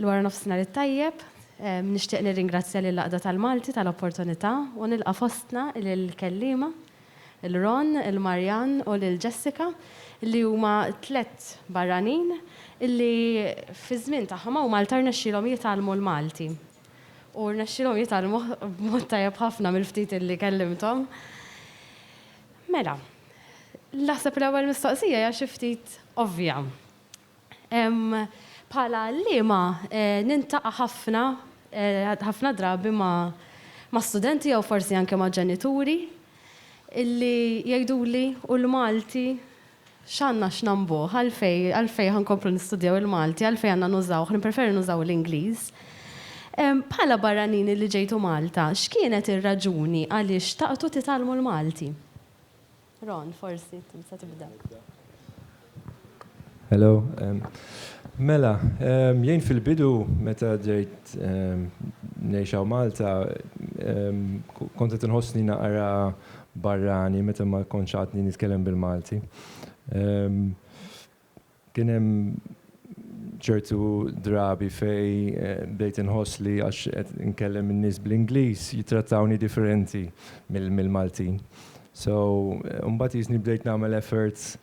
Il-wara nofsinhar it-tajjeb, nixtieq nirringrazzja lil Għaqda tal-Malti tal-opportunità u nilqa' fostna lill-kelliema, lil Ron, lil Marianne u lil Jessica, li huma tliet barranin li fiż-żmien tagħhom hawn Malta rnexxielhom jitgħallmu l-Malti. U rnexxielhom jitgħallmuh b'mod tajjeb ħafna mill-ftit li kellimthom. Mela, naħseb l-ewwel mistoqsija hija xi ftit ovvja. Bħala għalliema nintaqa' ħafna ħafna drabi ma' ma' studenti jew forsi anke ma' ġenituri illi jgħiduli u l-Malti X'għandna x'nambuh? Għalfejn, għalfejn ħa nkomplu nistudjaw il-Malti? Għalfejn għandna nużawh? Nippreferi nużaw l-Ingliż. Bħala barranin li ġejtu Malta, x'kienet ir-raġuni għaliex xtaqtu titgħallmu l-Malti? Ron, forsi int tista' tibda. Hello. Mela, jien fil-bidu meta ġejt ngħix hawn Malta, kont qed inħossni naqra barrani meta ma kontx għadni nitkellem bil-Malti. Kien hemm ċertu drabi fejn bdejt inħoss li għax qed inkellem in-nies bl-Ingliż jittrattawni differenti mill-Maltin. So, imbagħad qisni bdejt nagħmel efforts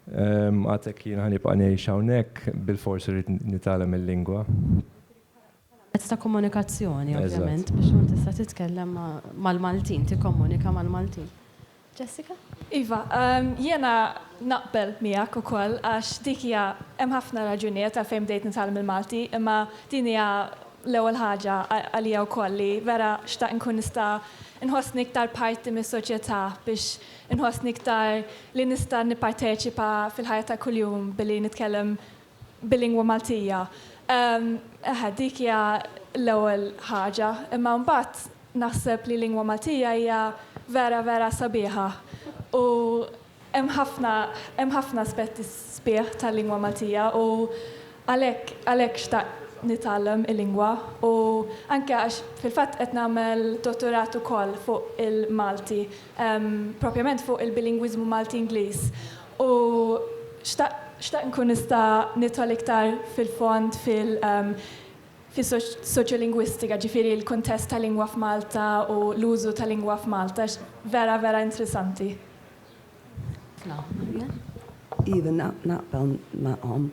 għad hekk jiena ħa nibqa' ngħix hawnhekk bilfors irrid nitgħallem il-lingwa. Mezz ta' komunikazzjoni ovvjament biex tkun tista' titkellem mal-Maltin, tikkomunika mal-Maltin. Jessica? Iva, jiena naqbel miegħek ukoll għax dik hija hemm ħafna raġunijiet għalfejn bdejt nitgħallem il-Malti, imma din hija l-ewwel ħaġa għalija wkoll li vera xtaqt inkun nista' nħossni iktar parti mis-soċjetà biex inħossni iktar li nista' nipparteċipa fil-ħajja ta' kuljum billi nitkellem bil-lingwa Maltija. Eħe, dik hija l-ewwel ħaġa, imma mbagħad naħseb li l-lingwa Maltija hija vera vera sabiħa u hemm ħafna hemm ħafna aspetti sbieħ tal-lingwa Maltija u għalhekk għalhekk xtaqt nitgħallem il-lingwa u anke għax fil-fatt qed nagħmel dottorat ukoll fuq il-Malti, propjament fuq il-bilingwiżmu Malti-Ingliż U xtaqt nkun nista' nidħol iktar fil-fond fis-soċjolingwistika, ġifieri l-kuntest tal-lingwa f'Malta u l-użu tal-lingwa f'Malta għax vera vera intrisanti. Iva naqbel magħhom.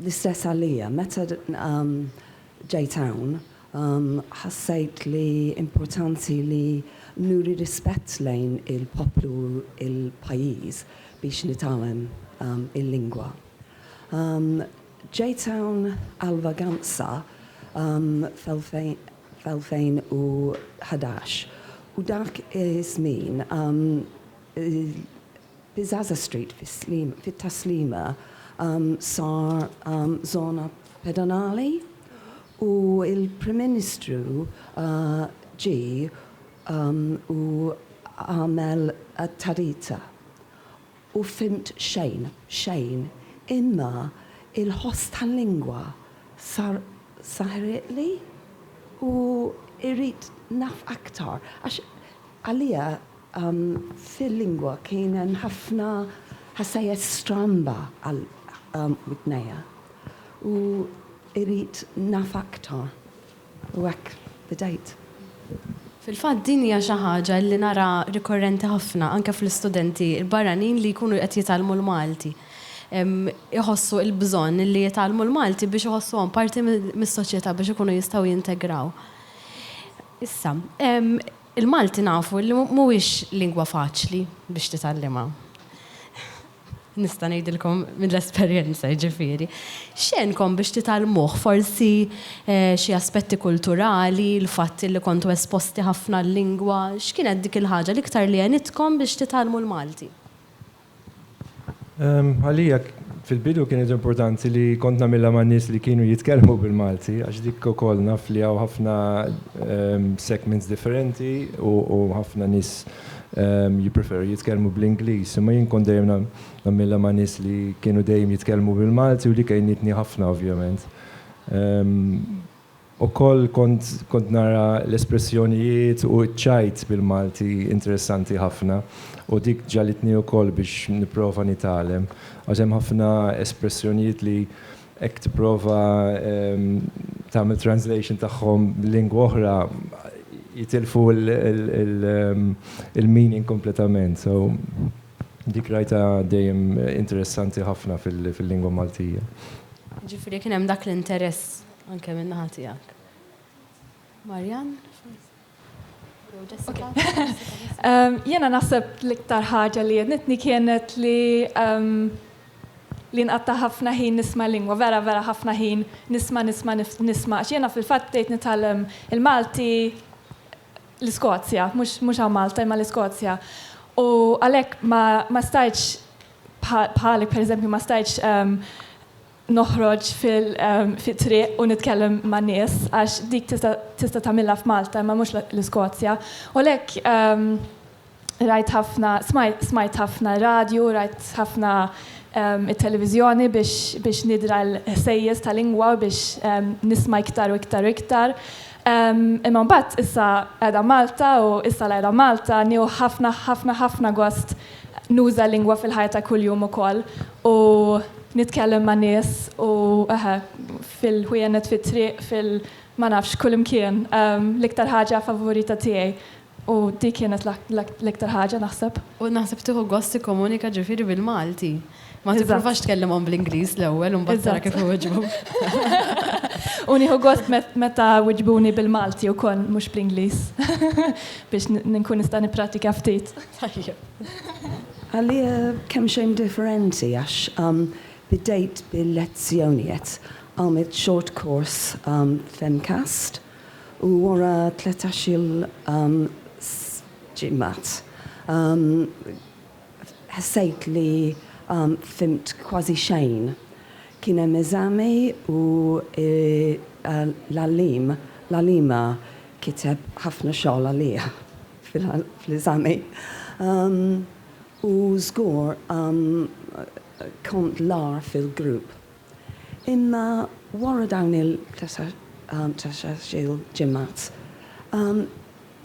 L-istess għalija. Meta ġejt hawn, ħassejt li importanti li nuri rispett lejn il-poplu u l-pajjiż biex nitgħallem il-lingwa. Ġejt hawn għal vaganza fl-2011 u dak iż-żmien Piazza Street fit-Taslima sar żona pedonali u l-Prim Ministru ġie u għamel tadita u fhimt xejn, xejn, imma l-ħoss tal-lingwa sar saħriqli u irrid naf aktar għax għalija Fil-lingwa kien hemm ħafna ħsajjes stramba għal widnejja u irrid naf aktar u hekk bdejt. Fil-fatt din hija xi ħaġa li nara rikorrenti ħafna anke fl-istudenti l-barranin li jkunu qed jitgħallmu l-Malti. Iħossu l-bżonn li jitgħallmu l-Malti biex iħossuhom parti mis-soċjetà biex ikunu jistgħu jintegraw. Issa, Il-Malti nafu li mhuwiex lingwa faċli biex titgħallimha. Nista' ngħidilkom mill-esperjenza, jiġifieri. X'għenkom biex titgħallmuh? Forsi xi aspetti kulturali, l-fatt illi kontu esposti ħafna għal-lingwa? X'kienet dik il-ħaġa l-iktar li għenitkom biex titgħallmu l-Malti? Għalija fil-bidu kienet importanti li kont nagħmilha ma' nies li kienu jitkellmu bil-Malti għax dik ukoll naf li hawn ħafna segments differenti u ħafna nies jippreferu jitkellmu bl-Ingliż. Imma jien kont dejjem nagħmilha ma' nies li kienu dejjem jitkellmu bil-Malti u dik għinitni ħafna ovvjament. Ukoll kont kont nara l-espressjonijiet u ċ-ċajt bil-Malti interessanti ħafna u dik ġagħlitni ukoll biex nipprova nitgħalem għax hemm ħafna espressjonijiet li hekk tipprova tagħmel translation tagħhom b'lingwa oħra jitilfu l-meaning kompletament. So dik rajtha dejjem interessanti ħafna fil-lingwa Maltija. Jiġifieri kien hemm dak l-interess Anke min-naħa tiegħek. Marianne, forsi? Jiena naħseb l-iktar ħaġa li jednitni kienet li li nqatta ħafna ħin nisma lingwa, vera vera ħafna ħin nisma nisma nisma. X'jiena fil-fatt bdejt nitgħallem il-Malti l-Iskozja, mhux hawn Malta imma l-Iskozja. U għalhekk ma stajtx bħalek pereżempju ma stajtx noħroġ fit-triq u nitkellem man-nies għax dik tista' tagħmilha f'Malta imma mhux l-Iskozja. U għalhekk rajt ħafna, smajt ħafna radju, rajt ħafna it-televiżjoni biex nidra l-ħsejjes ta' lingwa u biex nisma' iktar u iktar u iktar. Imma mbagħad issa qiegħda Malta u issa li qiegħda Malta nieħu ħafna ħafna ħafna gost nuża l-lingwa fil-ħajja ta' kuljum ukoll. u nitkellem ma' nies u eħe, fil-ħwienet, fit-triq, fil-, ma nafx, kullimkien. L-iktar ħaġa favorita tiegħi u dik kienet l-iktar ħaġa, naħseb. U naħseb tieħu gost tikkomunika ġifieri bil-Malti. Ma tipprovax tkellimhom bl-Ingliż l-ewwel u mbagħad tara kif iwiġbuk. U nieħu gost meta wiġbuni bil-Malti wkoll mhux bl-Ingliż biex nkun nista' nipprattika ftit. Għalija kemxejn differenti għax bdejt bil-lezzjonijet, għamilt short course f'MCAST u wara tletax-il ġimgħat ħsejt li fhimt kważi xejn. Kien hemm eżami u l-għalliem, l-għalliema kiteb ħafna xogħol għalija. fl-eżami. U żgur kont l-agħar fil-grupp. Imma wara dawn il-tletax-il ġimgħat,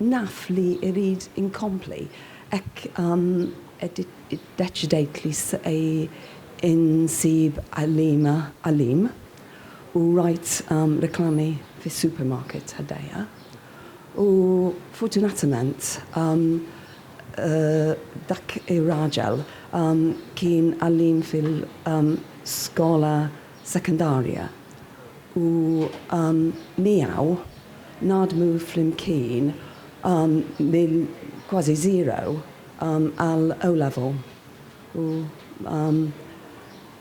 naf li rrid inkompli hekk iddeċidejt li se insib għalliema u rajt reklami fis-supermarket ħdejja. U fortunatament dak ir-raġel kien għalliem fil-skola sekondarja u miegħu naħdmu flimkien minn kważi zero għal O-Level u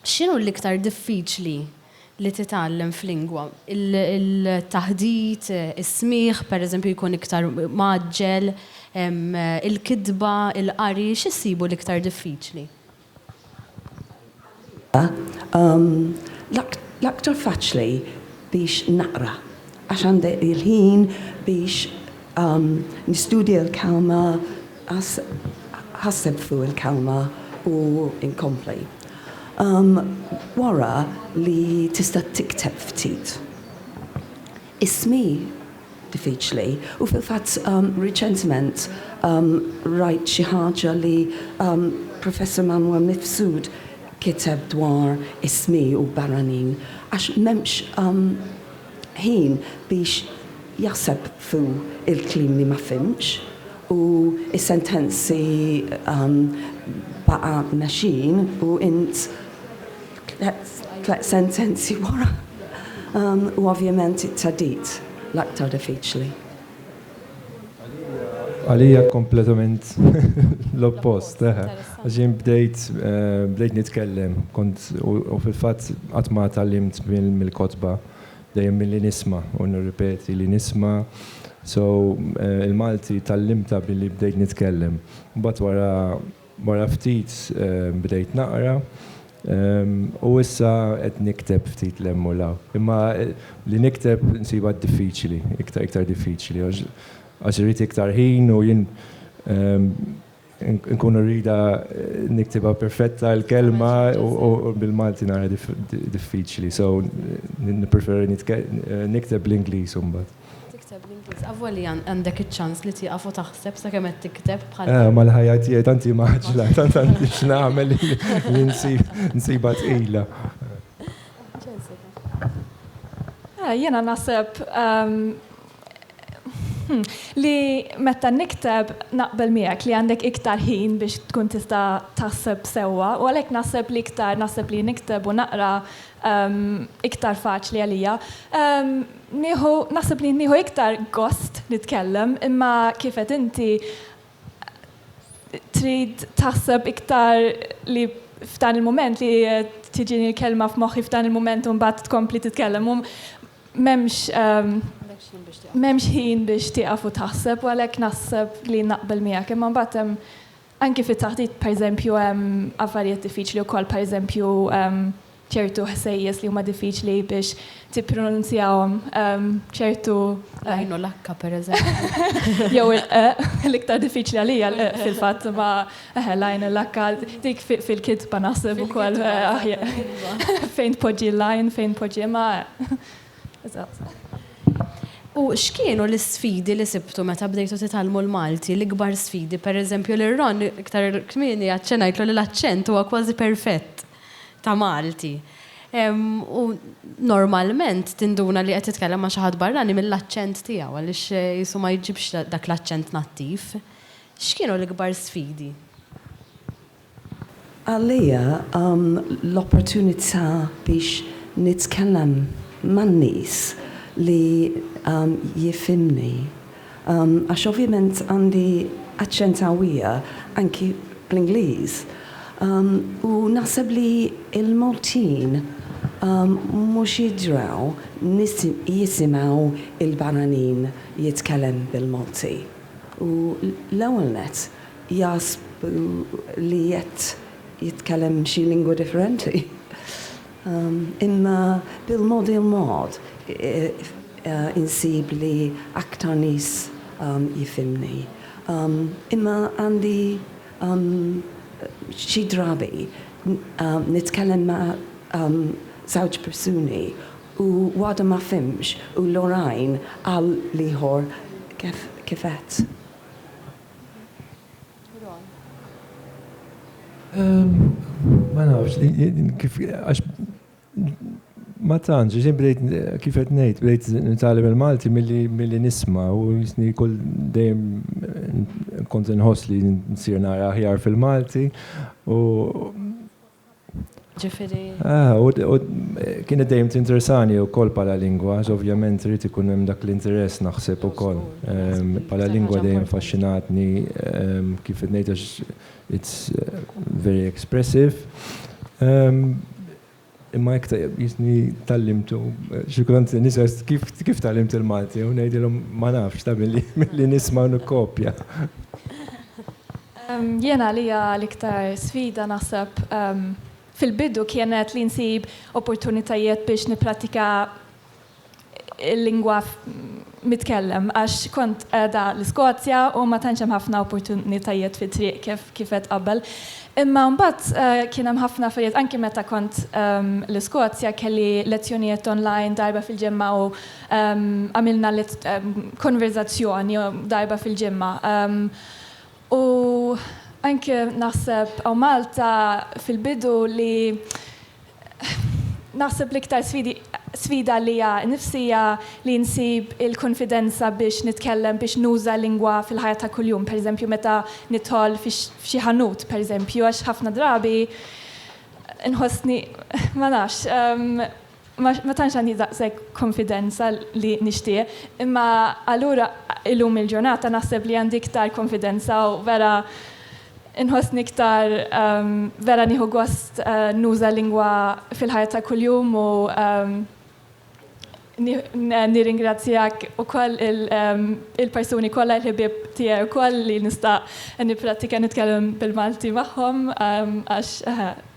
X'inhu l-iktar diffiċli li titgħallem f'lingwa? Il-taħdit, is-smigħ, pereżempju jkun iktar mgħaġġel, il-kitba, il-qari, x'issibu l-iktar diffiċli? Għalija, l-aktar faċli biex naqra għax għandi l-ħin biex nistudja l-kelma, Għax ħaseb fuq il-kelma u nkompli. Wara li tista' tikteb ftit. Ismi diffiċli u fil-fatt riċentement rajt xi ħaġa li Professor Manuel Mifsud kiteb dwar ismi u barranin għax m'hemmx ħin biex jaħseb fuq il-kliem li ma fhimx. u s-sentenzi baqa' mexjin u int tliet sentenzi wara u ovvjament it-theddid l-aktar diffiċli. Għalija kompletament l-oppost, eħe. Għax jien bdejt bdejt nitkellem, kont u fil-fatt qatt ma tgħallimt mill-kotba. Dejjem milli nisma' u nirripeti li nisma', so il-Malti tgħallimtha billi bdejt nitkellem. Mbagħad wara wara ftit bdejt naqra u issa qed nikteb ftit 'l hemm u 'l hawn. Imma li nikteb insibha diffiċli, iktar iktar diffiċli għax għax irid iktar ħin u jien Nkun irrida niktibha perfetta l-kelma u bil-Malti nara diffiċli, so nippreferi nikteb bl-Ingliż imbagħad. Tikteb bl-Ingliż, avolja għandek iċ-ċans li tieqaf u taħseb sakemm qed tikteb bħal. Eh, ma l-ħajja tiegħi tant hi mgħaġġla, tant għandi x'nagħmel li nsibha tqila. Jiena naħseb li meta nikteb naqbel miegħek li għandek iktar ħin biex tkun tista' taħseb sewwa u għalhekk naħseb li iktar naħseb li nikteb u naqra ehm, iktar faċli għalija. Ehm, nieħu naħseb li nieħu iktar gost nitkellem imma kif qed inti Trid taħseb iktar li f'dan il-mument li tiġini l-kelma f'moħħi f'dan il-mument u mbagħad tkompli titkellem. U m'hemmx ehm, m'hemmx ħin biex tieqaf u taħseb u għalhekk naħseb li naqbel miegħek. Imma mbagħad hemm anki fit-taħdit pereżempju hemm affarijiet diffiċli wkoll pereżempju ehm, ċertu ħsejjes li huma diffiċli biex tippronunzjahom, ċertu. L-għajn u l-akka, pereżempju. Jew il-q, l-iktar diffiċli għalija l-q fil-fatt, ma l-għajn u l-akka, dik fil-kitba naħseb ukoll fejn tpoġġi l-għajn, fejn tpoġġi ma. U x'kienu l-isfidi li sibtu meta bdejtu titgħallmu l-Malti, l-ikbar sfidi? Pereżempju, lil Ron iktar kmieni aċċennajtlu li l-aċċent huwa kważi perfett. ta' Malti. U normalment tinduna li qed titkellem ma' xi ħadd barrani mill-aċċent tiegħu għaliex qisu ma jġibx dak l-aċċent nattiv. X'kienu l-ikbar sfidi? Għalija l-opportunità biex nitkellem man-nies li jifhimni. Għax ovvjament għandi aċċent qawwija anki bl-Ingliż. U naħseb li l-Maltin mhux jidhrew jisimgħu l-barranin jitkellem bil-Malti. U l-ewwel nett jaħsbu li qed jitkellem xi lingwa differenti. Imma bil-mod il-mod insib li aktar nies jifhimni. Imma għandi xi drabi nitkellem ma' żewġ persuni u waħda ma fhimx u l-oħrajn għal l-ieħor kif qed. Ron. Ma nafx, kif, għax ma tantx, ġin bdejt kif qed ngħid, bdejt nitgħallem il-Malti milli nisma' u jisni kull dejjem kont inħoss li nsir nara aħjar fil-Malti u Ġifiri. Ah, u kienet dejjem tinteresani u kol pala lingwa, ovvjament rrit ikun hemm dak l-interess naħseb u kol. Pala lingwa dejjem faxxinatni kif ngħid għax it's very expressive. Imma hekk jisni tallimtu, xi kultant nisa kif tallimt il-Malti u ngħidilhom ma nafx, ta' billi nisma' u nikkopja. Jien għalija l-iktar sfida naħseb fil-bidu kienet li nsib opportunitajiet biex nipprattika l-lingwa mitkellem għax kont qiegħda l-Iskozja u ma tantx hemm ħafna opportunitajiet fit-triq kif kif għedt qabel. Imma mbagħad kien hemm ħafna affarijiet anki meta kont l-Iskozja kelli lezzjonijiet online darba fil-ġimgħa u għamilna konverżazzjoni darba fil-ġimgħa. U anke naħseb hawn Malta fil-bidu li naħseb l-iktar sfidi sfida għalija nnifsi hija li nsib il-kunfidenza biex nitkellem biex nuża lingwa fil-ħajja ta' kuljum, pereżempju meta nidħol f'xi ħanut pereżempju għax ħafna drabi nħossni ma nafx. Ma ma tantx għandi daqshekk konfidenza li nixtieq, imma allura illum il-ġurnata naħseb li għandi iktar konfidenza u vera nħossni iktar vera nieħu gost nuża lingwa fil-ħajja ta' kuljum u nirringrazzjak ukoll il-persuni kollha l-ħbieb tiegħi wkoll li nista' nipprattika nitkellem bil-Malti magħhom għax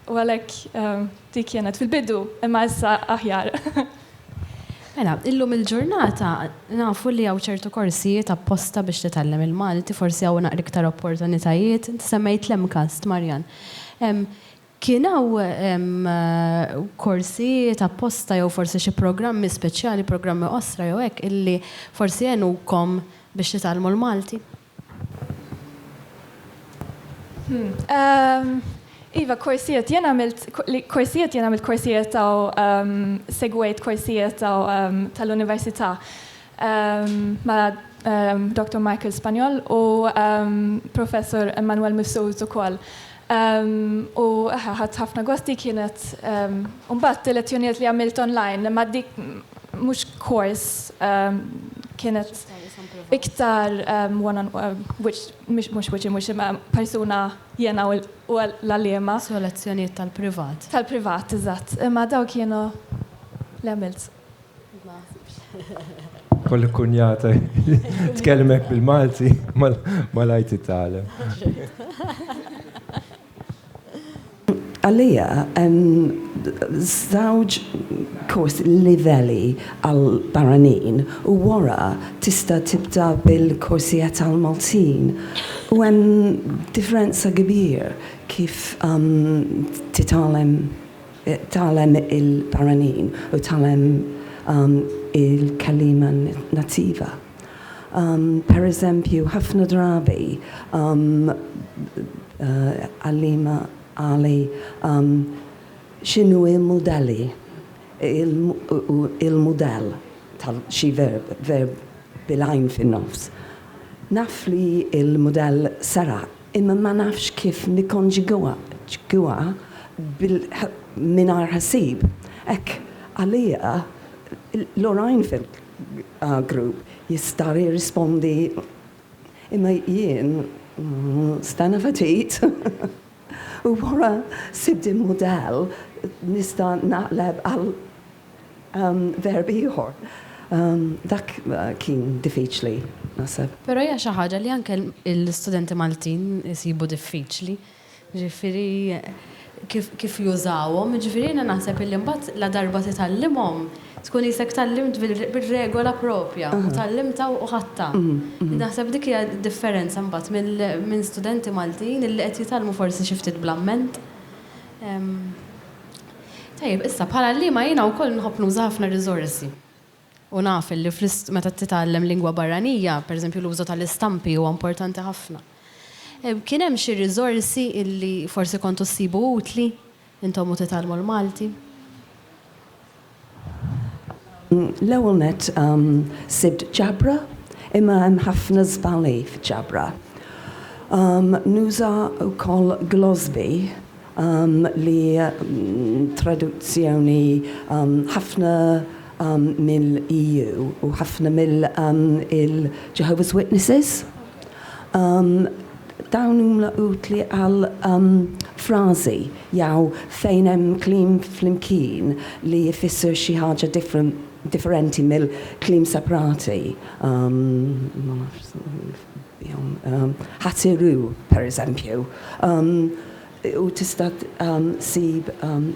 u għalhekk Dik kienet fil-bidu, imma issa aħjar. Mela, illum il-ġurnata nafu li hawn ċertu korsijiet apposta biex titgħallem il-Malti, forsi hawn naqra iktar opportunitajiet. Inti semmejt l-MCAST, Marjan. Kien hawn korsijiet apposta jew forsi xi programmi speċjali, programmi qosra jew hekk, illi forsi għenukom biex titgħallmu l-Malti? Hmm. Um, iva, korsijiet, jien għamilt, korsijiet jien għamilt korsijiet ta' um, segwejt korsijiet ta' um, tal-università um, ma' um, Dr. Michael Spanjol u um, Professor Emmanuel Missuz ukoll. U eħe ħadt ħafna gost dik kienet u mbagħad tielet unit li għamilt online ma dik mhux kors kienet iktar one on which mhux wiċċ imwiċċ imma persuna jiena u l-għalliema. So lezzjonijiet tal-privat. Tal-privat, eżatt. Imma dawn kienu li għamilt. Kolli kunjata tkellmek bil-Malti mal-għajt it-talem. Għalija, żewġ kors livelli għal barranin u wara tista' tibda bil-korsijiet għal Maltin. U hemm differenza kbir kif titgħallem. Tgħallem il-barranin u tgħallem il-kelliema nattiva. Pereżempju, ħafna drabi għalliema qali x'inhu l-mudelli, il-mudell ta' xi verb, verb bil-għajn fin-nofs. Naf li l-mudell seraq Imma ma nafx kif nikkonġugawha bil-mingħajr ħassib. Hekk, għalija, l-oħrajn fil-grupp jistgħu jirrispondi, imma jien, stenna ftit, u wara sibt il-mudell nista' naqleb għal Verb ieħor. Dak kien diffiċli, naħseb. Però hija xi ħaġa li anke l-istudenti Maltin isibu diffiċli. Jiġifieri kif jużawhom. Jiġifieri jiena naħseb illi mbagħad ladarba titgħallimhom, tkun qisek tgħallimt bir-regola proprja u tgħallimtha u ħadtha. Naħseb dik hija d-differenza mbagħad minn studenti Maltin illi qed jitgħallmu forsi xi ftit bl-amment. Tajjeb, issa bħala għalliema jiena wkoll nħobb nuża ħafna r-riżorsi u naf li meta titgħallem lingwa barranija, pereżempju l-użu tal-istampi huwa importanti ħafna. Kien hemm xi riżorsi li forsi kontu ssibu utli intom u titgħallmu l-Malti? L-ewwel nett sibt ġabra imma hemm ħafna żbali fiċ-ġabra. Nuża wkoll glossbi li traduzzjoni ħafna mill-EU u ħafna mill-Jehovah's Witnesses. Dawn huma utli għal frażi jew fejn hemm kliem flimkien li jfisser xi ħaġa differenti mill-kliem separati. Ħatsirru, pereżempju, u tista' ssib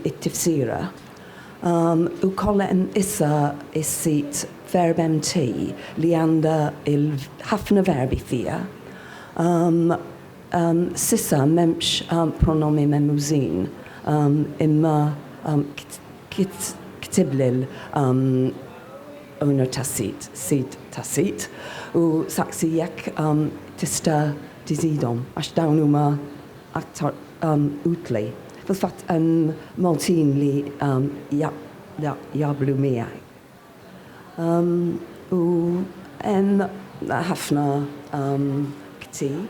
it-tifsira. Ukoll hemm issa s-sit VerbMT li għandha ħafna verbi fiha. S'issa m'hemmx pronomi memużin, imma ktiblil. owner tas-sit, sid tas-sit, u saqsi jekk tista' tiżidhom għax dawn huma aktar utli. Fil-fatt hemm Maltin li jaqblu miegħi. U hemm ħafna ktieb.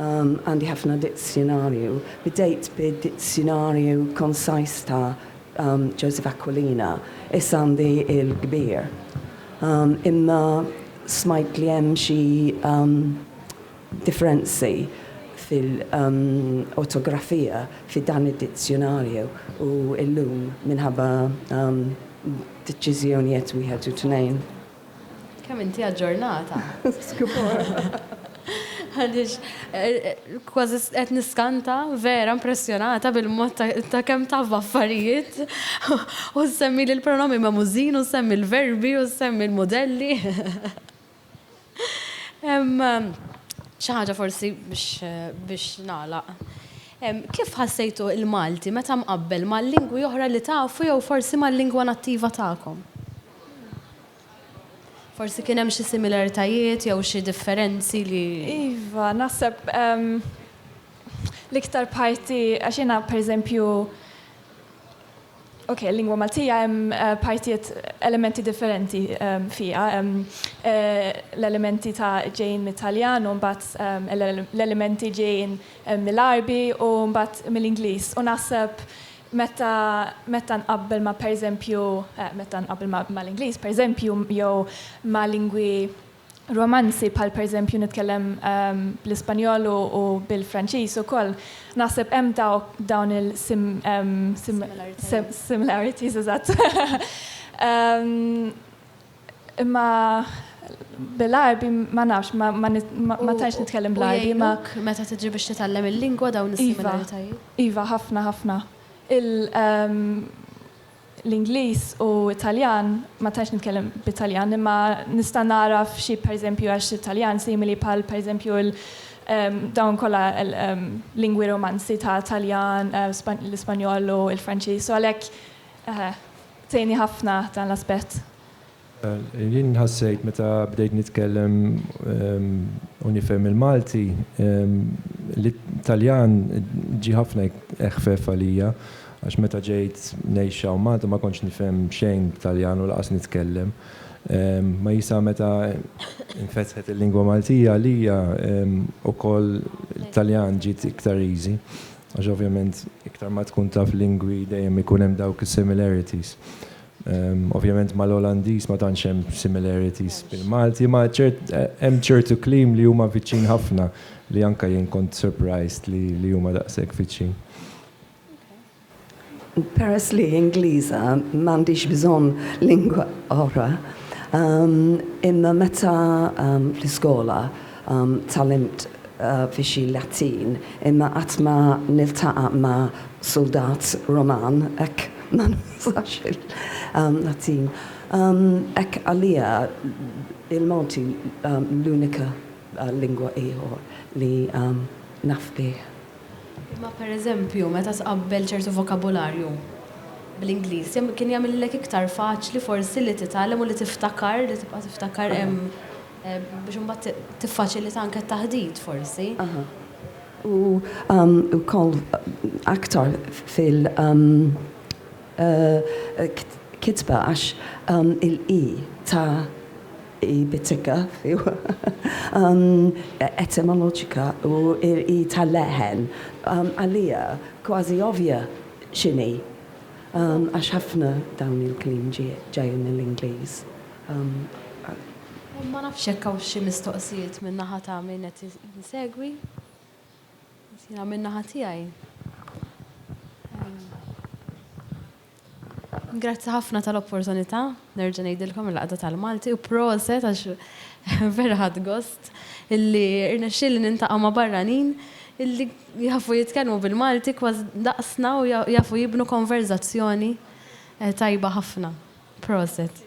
Għandi ħafna dizzjunarju. Bdejt bid-dizzjunarju Concise ta' Joseph Aquilina, issa għandi il-kbir. Imma smajt li hemm xi differenzi fil-ortografija fi dan id-dizzjunarju u llum minħabba deċiżjonijet wieħed u tnejn. Kemm inti aġġornata. Għaliex kważi qed niskanta, vera impressjonata bil-mod ta' kemm taf b'affarijiet u ssemmi li l-pronomi magħmużin u ssemmi l-verbi u ssemmi l-mudelli. Xi ħaġa forsi biex nagħlaq. Kif ħassejtu l-Malti meta mqabbel ma' lingwi oħra li tafu jew forsi mal-lingwa nattiva tagħkom? Forsi kien hemm xi similaritajiet jew xi differenzi li. Iva, naħseb l-iktar parti għax jiena pereżempju Ok, lingwa Maltija hemm eh, partijiet elementi differenti ehm, fija. Ehm, eh, l-elementi ta' ġejn mit-Taljan u mbagħad ehm, l-elementi ġejn mill-Arbi u mbagħad mill-Ingliż. U naħseb Meta meta nqabbel ma' pereżempju meta nqabbel mal-Ingliż pereżempju jew ma' lingwi Romanzi bħal pereżempju nitkellem bl-Ispanjol u bil-Franċiż ukoll naħseb hemm dawk dawn il similarities eżatt. Imma bil-Għarbi ma nafx, ma ma nit- ma- ma tantx nitkellem bl-Għarbi, ma U jgħinuk meta tiġi biex titgħallem il-lingwa dawn Iva, is-similaritajiet? iva, ħafna, ħafna. Il, ehm, l-Ingliż u t-Taljan, ma tantx nitkellem bit-Taljan, imma nista' nagħraf xi pereżempju għax it-Taljan simili bħal pereżempju l, ehm, dawn kollha l, ehm, lingwi Romanzi ta' Taljan, eh, Span, l-Ispanjol u l-Franċiż, u għalhekk, eħe. Tgħinni ħafna dan l-aspett. Jien ħassejt meta bdejt nitkellem u nifhem il-Malti li t-Taljan ġie ħafna eħfef għalija għax meta ġejt ngħix hawn Malta ma kontx nifhem xejn b'Taljan u lanqas nitkellem. Ma jisa meta nfetħet il-lingwa Maltija għalija ukoll it-Taljan ġiet iktar easy. Għax ovvjament iktar ma tkun taf lingwi dejjem ikun hemm dawk is-similarities. Ovvjament mal-Olandiż ma tantx hemm similarities bil-Malti, ma ċert hemm ċertu kliem li huma viċin ħafna li anke jien kont surprised li huma daqshekk viċin. Peress li Ingliża m'għandix bżonn lingwa oħra, imma meta fl-iskola tgħallimt fi xi Latin imma qatt ma niltaqa' ma' suldat Roman hekk ma nużax il-Latin. Hekk għalija il-Malti l-unika lingwa ieħor li naf bih. Imma pereżempju, meta tqabbel ċertu vokabularju bl-Ingliż, jam, kien jagħmillek iktar faċli forsi li titgħallem u li tiftakar, li tibqa' tiftakar, ehm, biex imbagħad ti, tiffaċilita anke t-taħdit, forsi. Aha. U, ehm, ukoll aktar fil, ehm, eh, kitba għax, ehm, il-i ta'. Hi bizzikka, iva. Etimoloġika u hi tal-leħen. Għalija kważi ovvja x'inhi għax ħafna dawn il-kliem ġejjin mill-Ingliż. Ma nafx jekk hawnx xi mistoqsijiet min-naħa ta' min qed isegwi. Jiena min-naħa tiegħi. Grazzi ħafna tal-opportunità, nerġa' ngħidilkom il-Għaqda tal-Malti u proset għax vera ħadt gost illi rnexxieli nintaqa' ma' barranin illi jafu jitkellmu bil-Malti kważi daqsna u jafu jibnu konverżazzjoni tajba ħafna. Proset.